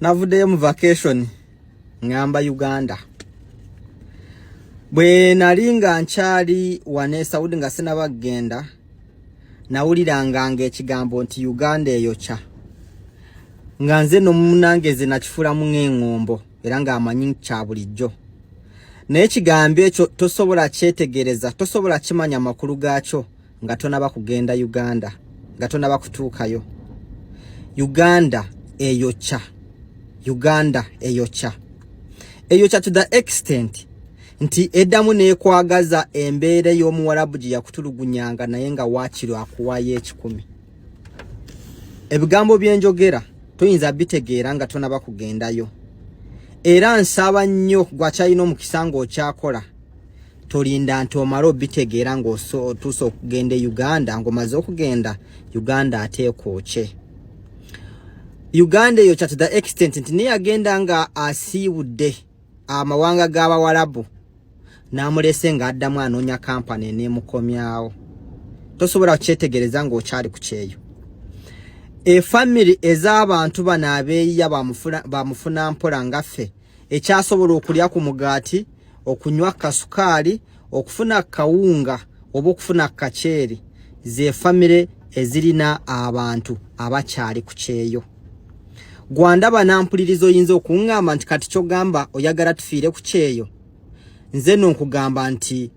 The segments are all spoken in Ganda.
navuddeyo mu vacation ngamba uganda bwe nali nga nkyali wane saudi nga sinaba kugenda nawuliranga nga ekigambo nti uganda eyokya nga nze nomunangeze nakifulamu ng'eng'ombo era ng'amanyi kya bulijjo naye ekigambo ekyo tosobola kyetegereza tosobola kimanya amakulu gaakyo nga tonaba kugenda uganda nga tonaba kutuukayo uganda eyokya uganda eyokya eyokya to the extent nti eddamu nekwagaza embeera ey'omuwarabu gye yakutulugunyanga naye nga waakiro akuwaayo ekikumi ebigambo byenjogera tuyinza bitegeera nga tonaba kugendayo era nsaba nnyo gwakyalina omukisa nga okyakola tolinda nti omale obitegeera ngaotuusa okugenda e uganda ngaomaze okugenda uganda ateeka okye uganda eyo kyati the extent nti neyagenda nga asiibudde amawanga g'abawalabu n'amulese ng'addamu anoonya kampani eneemukomyawo tosobola kukyetegereza ng'okyali ku kyeyo efamiri ez'abantu bano abeeyiya bamufuna mpola ngaffe ekyasobola okulya ku mugaati okunywa kasukaali okufuna kawunga oba okufuna kaceeri ze famire ezirina abantu abakyali ku kyeyo gwanda banampuliriza oyinza okuŋŋamba nti kati kyogamba oyagala tufiire ku kyeyo nze no nkugamba nti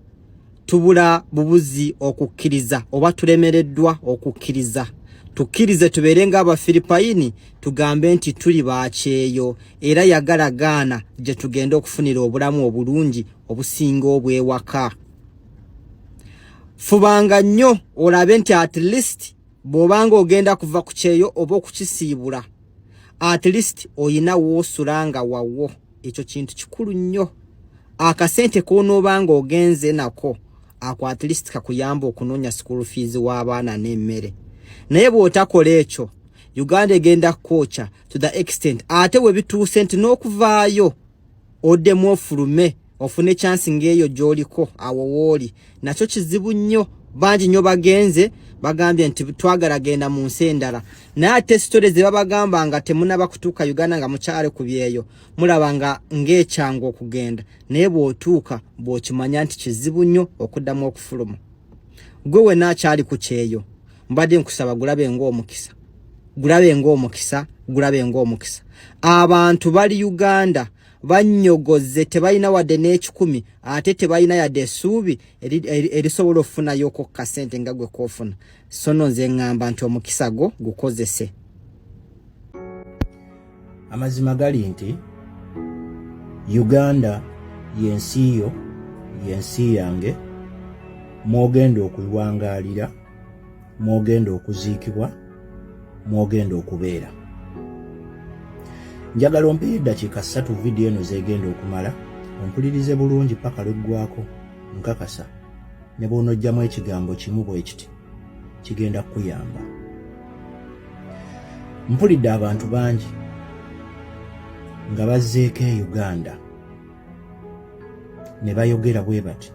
tubula bubuzi okukkiriza oba tulemereddwa okukkiriza tukkirize tubeere ng'abafiripayini tugambe nti tuli bakyeyo era yagala gaana gye tugenda okufunira obulamu obulungi obusinga obwewaka fubanga nnyo olabe nti at least bw'obanga ogenda kuva ku kyeyo oba okukisiibula at least olina woosula nga wawo ekyo kintu kikulu nnyo akasente k'onoobanga ogenze nako ako at least kakuyamba okunoonya school fees w'abaana n'emmere naye bw'otakola ekyo uganda egenda kukwookya to the extent ate we bituuse nti n'okuvaayo oddemu ofulume ofune chansi ng'eyo gy'oliko awo wooli nakyo kizibu nnyo bangi nnyo bagenze bagambye nti twagala genda mu nsi endala naye ate sitore ze babagamba nga temunaba kutuuka uganda nga mukyale ku byeyo mulaba nga ng'ekyangu okugenda naye bw'otuuka bw'okimanya nti kizibu nnyo okuddamu okufuluma gwe wena akyali ku kyeyo mbadde nkusaba gulabe ng'omukisa gulabe ng'omukisa gulabe ng'omukisa abantu bali uganda bannyogoze tebalina wadde n'ekikumi ate tebalina yadde essuubi erisobola okufunayo okokka ssente nga gwe koofuna sono nze ŋŋamba nti omukisa gwo gukozese Amazima gali nti Uganda yensi yo yensi yange mwogenda okulwangaalira mwogenda okuziikibwa mwogenda okubeera njagala ompeyo eddakiika ssatu vidiyo eno zegenda okumala ompulirize bulungi paka lweggwako nkakasa ne bw'onojjamu ekigambo kimu bwe kiti kigenda kukuyamba mpulidde abantu bangi nga bazzeeko e uganda ne bayogera bwe bati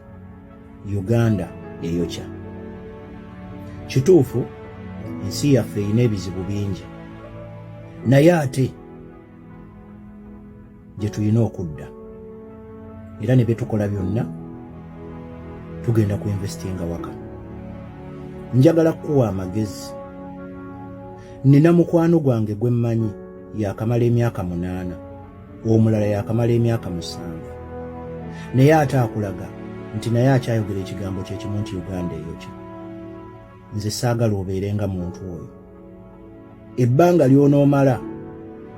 uganda eyokya kituufu ensi yaffe erina ebizibu bingi naye ate gye tulina okudda era ne byetukola byonna tugenda ku investinga waka njagala kukuwa amagezi nina mukwano gwange gwe mmanyi yakamala emyaka munaana omulala yakamala emyaka musanvu naye ate akulaga nti naye akyayogera ekigambo kyekimu nti uganda eyokya nze saagala obeere nga muntu oyo ebbanga ly'onoomala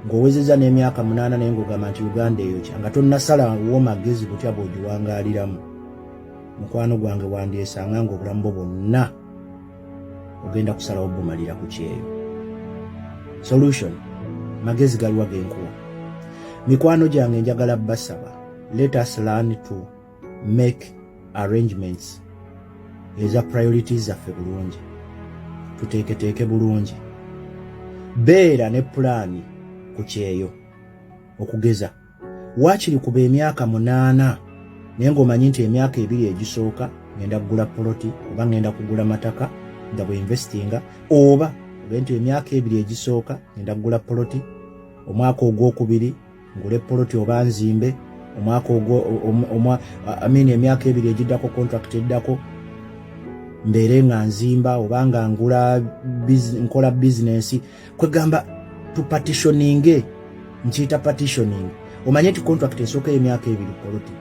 ng'owezeza n'emyaka munaana naye ng'ogamba nti uganda eyo kya nga tonnasala wo magezi butya bw'ogiwangaaliramu mukwano gwange wandyesanga ng'obulamu bwo bwonna ogenda kusalawo bumalira ku kyeyo solution magezi galiwa genkuwa mikwano gyange njagala basaba let us learn to make arrangements eza priorities zaffe bulungi tuteeketeeke bulungi beera ne pulaani ku kyeyo okugeza waakiri kuba emyaka munaana naye ng'omanyi nti emyaka ebiri egisooka ngenda kugula poloti oba ngenda kugula mataka nga bwe investinga oba obe nti emyaka ebiri egisooka ngenda kugula poloti omwaka ogwokubiri ngule poloti oba nzimbe omwaka ogwo amini emyaka ebiri egiddako contract eddako mbeere nga nzimba oba nga ngula nkola bizinensi kwegamba tupatitioninge nkiyita patitioning omanye nti contract esooka emyaka ebiri poloti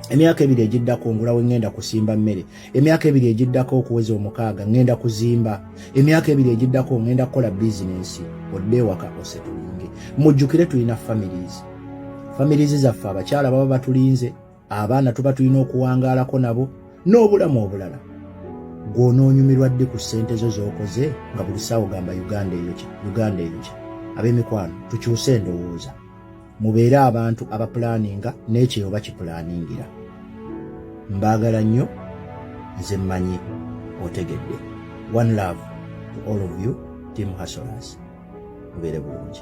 emyaka ebiri egiddako ngula wengenda kusimba mmere emyaka ebiri egiddako okuweza omukaaga ŋŋenda kuzimba emyaka ebiri egiddako ŋŋenda kukola bizinensi odde ewaka osetulinge mujjukire tulina families families zaffe abakyala baba batulinze abaana tuba tulina okuwangaalako nabo n'obulamu obulala gw'onoonyumirwa ddi ku ssente zo z'okoze nga buli saawo gamba uganda eyokya uganda eyokya ab'emikwano tukyuse endowooza mubeere abantu abapulaaninga n'ekyeyo bakipulaaningira mbaagala nnyo nze mmanyi otegedde one love to all of you team hasolas mubeere bulungi